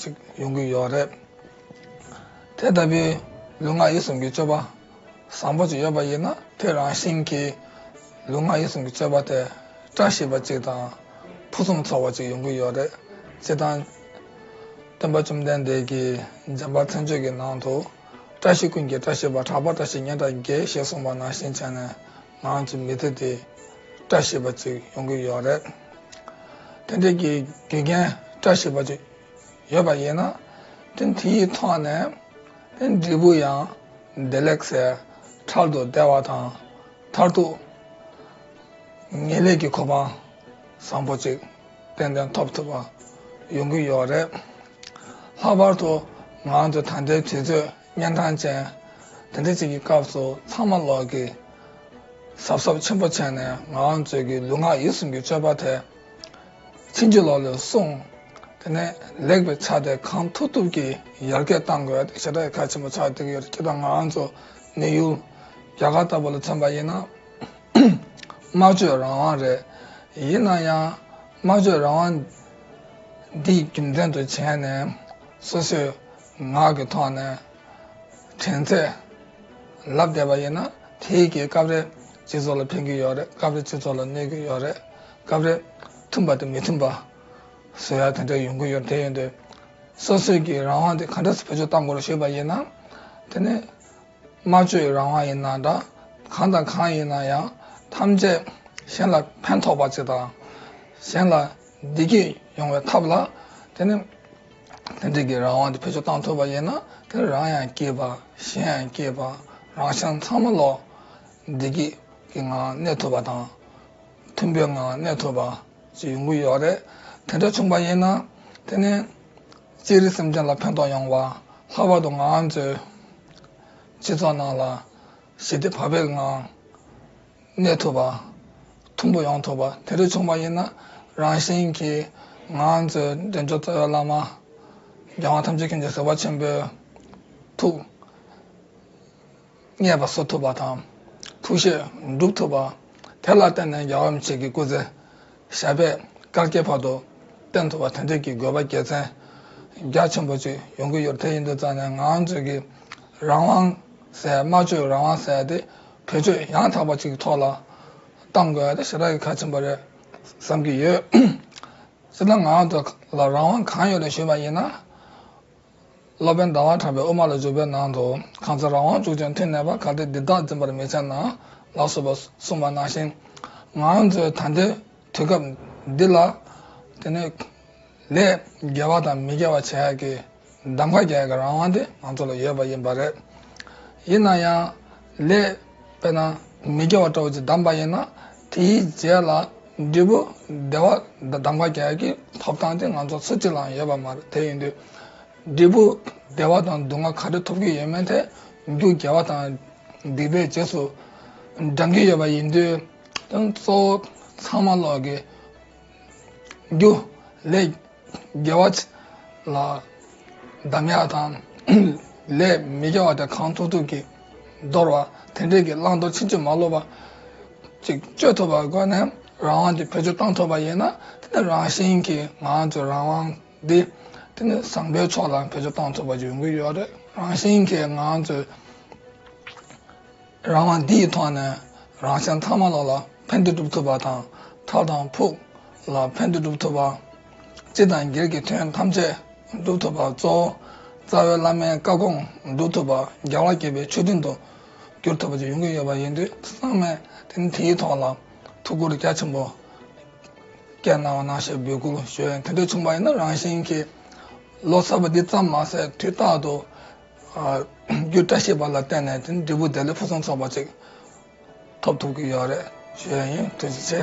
ཅིག་ཡོང་གི་ཡོད་རེད། དེ་ལྟ་བུའི་ལུས་ངག་ཡིད་གསུམ་གྱི་སྤྱོད་པ་བཟང་པོ་ཅིག་ཡོད་པ་ཡིན་ན་ཁྱོད་རང་བཞིན་གྱི་ལུས་ངག་ཡིད་གསུམ་གྱི་སྤྱོད་པ་དེ་བཀྲ་ཤིས་པ་ཅིག་དང་ཕུན་སུམ་ཚོགས་པ་ཅིག་ཡོང་གི་ཡོད་རེད། སྤྱིར་བཏང་སྟོན་པ་བཅོམ་ལྡན་འདས་ཀྱིས་རྗེན་པ་མཚན་བརྗོད་ཀྱི་ནང་དུ་བཀྲ་ཤིས་ཀུན་གྱི་བཀྲ་ཤིས་པ་གྲགས་པ་བཀྲ་ཤིས་ཉི་ཟླ་འགའི་ཞེས་གསུངས་པ་ནང་བཞིན་བྱས་ནས་ངང་ཅིག་མི་ཐེག་དེ། བཀྲ་ཤིས་པ་ཅིག་ཡོང་གི་ཡོད་རེད། དེ་འདྲའི་གི་རྒྱུ་རྐྱེན་བཀྲ་ཤིས་པ་ཅིག་ཡོད་པ་ཡིན་ན། དེ་དེ་ཡི་ཐོག་ནས་དེ་འབྲས་བུ་ཡང་བདེ་ལེགས་སའི་ཁྲར་དུ་བདེ་བ་དང་མཐར་ཐུག་ངེས་ལེགས་ཀྱི་གོ་འཕང་བཟང་པོ་ཅིག་ཏན་ཏན་ཐོབ་ཐུབ་པ་ཡོང་གི་ཡོད་རེད། ལྷག་པར་དུ་ངང་ཅིག་ད་ལྟའི་དུས་ཚོད། གཉན་ཐང་ཅན། དེ་འདྲ་ཅིག་གི་སྐབས་སུ་ཚང་མ་ལོག་གིས་གཟབ་གཟབ་ཆེན་པོ་བྱས་ནས་ངའང་མཛོད་ཀྱི་ལུས་ངག་ཡིད་གསུམ་གྱི་སྤྱོད་པ་དེ་ཕྱིན་ཅི་ལོག་ལས་བསྲུང། དེ་ནས་ལེགས་པའི་ཆ་དེ་གང་ཐུབ་ཐུབ་ཀྱིས་ཡར་རྒྱས་བཏང་དགོས་ཞེ་དྲག་གི་གལ་ཆེན་པོ་ཆགས་བསྡད་ཀྱི་ཡོད་ཁྱེད་དང་ང་ཚོ་ནི་ཡུལ་རྒྱ་གར་ལྟ་བུ་ལ་མཚོན་པ་ཡིན་ན་སྨྲ་བརྗོད་རང་དབང་རེད། ཡིན་ན་ཡང་སྨྲ་བརྗོད་རང་དབང་འདི་རྒྱུ་མཚན་དུ་བྱས་ནས་སོ་སོས། ངག་གི་ཐོག་ནས་དྲན་ཚད་ལབ་བསྡད་པ་ཡིན་ན་དེའི་རྐྱེན་སྐབས་རེ་སྤྱི་ཚོགས་ལ་ཕན་གྱི་ཡོད་རེད་སྐབས་རེ་སྤྱི་ཚོགས་ལ་གནོད་ཀྱི་ཡོད་རེད་སྐབས་རེ་མཐུན་པ་དང་མི་མཐུན་པ་བཟོ་ཡག་དེ་འདྲ་ཡོང་གི་ཡོད་དེ་ཡིན་དུས་སོ་སོས་ཀྱི་རང་དབང་དེ་ག་འདྲ་བེད་སྤྱོད་གཏང་དགོས་རེད་ཞུས་པ་ཡིན་ན་དེ་ནི་སྨྲ་བརྗོད་རང་དབང་ཡིན་ན་འདྲ་གང་དང་གང་ཡིན་ན་ཡང་ཐམས་ཅད་གཞན་ལ་ཕན་ཐོགས་པ་ཅིག་དང་གཞན་ལ་བདེ་སྐྱིད་ཡོང་བའི་ཐབས་ལ་དེ་ནི། དེ་འབྲེལ་གྱི་རང་དབང་དེ་བེད་སྤྱོད་བཏང་ཐུབ་པ་ཡིན་ན་དེར་རང་ཡང་སྐྱིད་པ་གཞན་ཡང་སྐྱིད་པ་རང་ཤང་ཚང་མ་ལོག་བདེ་སྐྱིད་ཀྱི་ངང་གནས་ཐུབ་པ་དང། མཐུན་པའི་ངང་གནས་ཐུབ་པ་ཞིག་ཡོང་གི་ཡོད་རེད། དེ་འདྲ་བྱུང་པ་ཡིན་ན་དེ་ནི་སྤྱིར་རིག་སེམས་ཅན་ལ་ཕན་ཐོགས་ཡོང་བ། ལྷག་པར་དུ་ང་ཚོའི་སྤྱི་ཚོགས་ནང་ལ་ཞི་བདེ་བག་ཕེབས་ངང། གནས་ཐུབ་པ། ཐུམ་པོ་ཡོང་ཐུབ་པ་དེ་རིགས་བྱུང་བ་ཡིན་ན་རང་བཞིན་གྱིས་ང་ཚོས་འདྲེན་མཆོག་རྩ་བའི་བླ་མ་རྒྱལ་དབང་ཐམས་ཅད་མཁྱེན་གྱི་བཟོད་པ་ཆེན་པོའི་ཐུགས། བརྙེས་པ་གསོ་ཐུབ་པ་དང་ཐུགས་བཞེད་འགྲུབ་ཐུབ་པ། དེ་ལ་བརྟེན་ནས་རྒྱལ་བ་རིན་ཆེན་གྱི་སྐུ་ཚེ་ཞབས་པད་བཀའ་བརྒྱད་བར་དུ་བསྟན་ཐུབ་པ་དོན་གཅོད་ཀྱི་དགོས་པ་རྒྱལ་མཚན་རྒྱ་ཆེན་པོ་ཅིག་ཡོང་གི་ཡོད་དེ་ཡིན་དུས་རྩ་ནས་ངང་ཚུལ་གྱི་རང་དབང་ཟེར་སྨྲ་བརྗོད་རང་དབང་ཟེར་དེ་བེད་སྤྱོད་ཡང་དག་པ་ཅིག་གི་ཐོག་ལ་གཏང་དགོས་དེ་ཞེ་དྲག་གི་གལ་ཆེན་པོ་རེད་བསམ་གྱི་ཡོད། སྤྱིར་ན་ངང་དུ་ལ་རང་དབང་གང་ཡོད་རེད་ཞུས་པ་ཡིན་ན། སློབ་དཔོན་ཟླ་བ་གྲགས་པའི་དབུ་མ་ལ་བརྗོད་པའི་ནང་དུ་གང་ཚེ་རང་དབང་ཕྱུག་ཅིང་མཐུ་གནས་པ་གལ་ཏེ་འདི་དག་འཛིན་པར་མི་བྱ་ན་ལགས་སོ་པར་གསུངས་པ་ནང་བཞིན་ང་ཚོའི་ད་ལྟའི་དུས་སྐབས་འདི་ལ། དེ་ནི། ལས་དགེ་བ་དང་མི་དགེ་བ་བྱས་ཀྱི་གདམ་ག་བརྒྱད་ཀྱི་རང་དབང་དེ་ང་ཚོ་ལ་ཡོད་པ་ཡིན་པ་རེད། ཡིན་ན་ཡང་ལས། དཔེར་ན་མི་དགེ་བ་བཀྲ་བར་བྱེད་གདམས་པ་ཡིན་ན་དེའི་རྗེས་ལ་འབྲས་བུ་བདེ་བ་གདམས་ཀ་བརྒྱད་ཀྱི་ཐོབ་ཐང་དེ་ང་ཚོ་སུ་གཅིག་ལའང་ཡོད་པ་མ་རེད་དེ་ཡིན་དུས་འབྲས་བུ་བདེ་བ་དང་སྡུག་བསྔལ་ག་རེ་ཐོབ་ཀྱི་ཡོད་མེད་ཐད་རྒྱུ་དགེ་བ་དང་སྡིག་པའི་རྗེས་སུ་འབྲང་གི་ཡོད་པ་ཡིན་དུས་གཙོ་བོ་ཚང་མ་ལོག་གི་རྒྱུ་ལས། དགེ་བ། ལ། འདམ་ཡག་དང། ལས། མི་དགེ་བ་དེ་གང་ཐུབ་ཐུབ་ཀྱིས། འདོར་བ། དེ་འབྲས་ཀྱི་བླང་དོར་ཕྱིན་ཅི་མ་ལོག་པ། ཅིག། སྤྱོད་ཐུབ་པར་སྒོས་ནས་རང་དབང་གི་བེད་སྤྱོད་གཏང་ཐུབ་པ་ཡིན་ན། དེ་ནི་རང་བཞིན་གྱིས་ང་ཚོའི་རང་དབང་འདི། དེ་ནི་བཟང་པོའི་ཕྱོགས་ལ་བེད་སྤྱོད་གཏང་ཐུབ་པར་འགྱུར་གྱི་ཡོད་རེད། རང་བཞིན་གྱིས་ང་ཚོའི། རང་དབང་འདི་ཡི་ཐོག་ནས་རང་ཞང་ཚང་མ་ལ་ལ་ཕན་བདེ་སྒྲུབ་ཐུབ་པ་དང་ཁྲག་དང་ཕུགས་ལ་ཕན་བདེ་སྒྲུབ་ཐུབ་པ། སྤྱི་དང་སྒེར་གྱི་དོན་ཐམས་ཅད་སྒྲུབ་ཐུབ་པ་གཙོ་བོ་རྩ་བའི་བླ་མའི་བཀའ་དགོངས་སྒྲུབ་ཐུབ་པ་རྒྱལ་བ་དགྱེས་པའི་ཆོས་མཐུན་དུ་གྱུར་ཐུབ་པ་བཅས་ཡོང་གི་ཡོད་པ་ཡིན་དུས་ཚང་མས་ཐེངས་འདིའི་ཐོག་ལ་ཐུགས་ཁུར་རྒྱ་ཆེན་པོ་བསྐྱེད་གནང་བ་གནང་ཞེས་འབོད་སྐུལ་ཞུ་ཡོད་དེ་འདྲ་བྱུང་བ་ཡིན་ན་རང་ཞིང་གི་ལོ་གསར་པ་འདི་ཙམ་མ་ཟད་དུས་རྟག་ཏུ་རྒྱུ་བཀྲ་ཤིས་པ་ལ་བརྟེན་ནས་དེ་འབྲས་བུ་བདེ་ལེགས་ཕུན་སུམ་ཚོགས་པ་ཅིག་ཐོབ་ཐུབ་ཀྱི་ཡོད་རེད་ཞུ་ཡ་ཡིན་ཐུགས་རྗེ་ཆེ།